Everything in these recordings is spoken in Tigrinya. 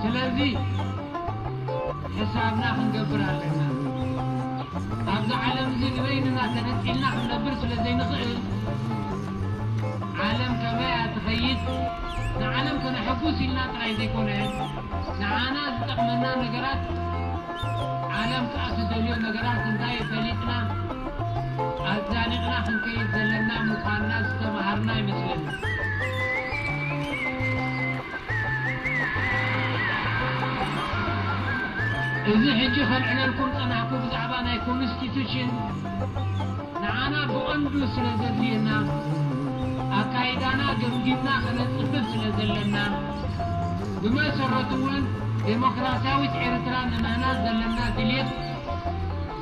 ስለዚ ሕሳብና ክንገብር ኣለና። ኣብዚ ዓለም እዚ ንበይንና ተነጺልና ክንነብር ስለ ዘይንኽእል፣ ዓለም ከመይ እያ ትኸይድ፣ ንዓለም ከነሐጉስ ኢልና ጥራይ ዘይኮነ፣ ንዓና ዝጠቕመና ነገራት፣ ዓለም ከኣ ትደልዮ ነገራት እንታይ ፈሊጥና ኣዛኒቕና ክንከይድ ዘለና ምዃንና ዝተመሃርና ይመስለኒ። እዚ ሕጂ ከልዕለልኩም ዝጸናሕኩ ብዛዕባ ናይ ኮንስቲቱሽን ንዓና ብቐንዱ ስለ ዘድልየና ኣካይዳና ገምጊምና ከነጽብብ ስለ ዘለና ብመሰረቱ ውን ደሞክራሲያዊት ኤርትራ ንምህናጽ ዘለና ድልየት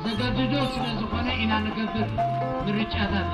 ዘገድዶ ስለ ዝኾነ ኢና ንገብር ምርጫታትና።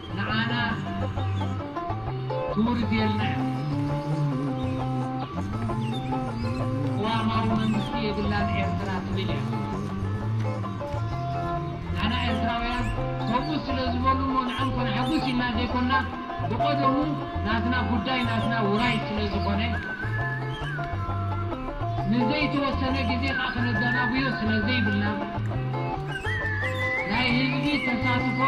ንዓና ክቡር ጌርና ቅዋማዊ መንግስቲ የብላን ኤርትራ ትብል እያ ንዓና ኤርትራውያን ከምኡ ስለ ዝበሉ እሞ ንዕኦም ከነሐጉስ ኢልና ዘይኮና ብቀደሙ ናትና ጉዳይ ናትና ውራይ ስለ ዝኾነ ንዘይተወሰነ ግዜ ከኣ ከነዳናጉዮ ስለ ዘይብልና ናይ ህዝቢ ተሳትፎ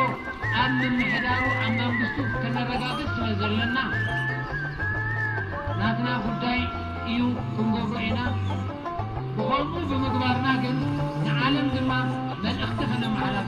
ኣብ ምምሕዳሩ ኣብ መንግስቱ ከነረጋግጽ ስለ ዘለና ናትና ጉዳይ ኢዩ ክንገብሮ ኢና ብኸምኡ ብምግባርና ግን ንዓለም ድማ መልእኽቲ ከነመሓላፍ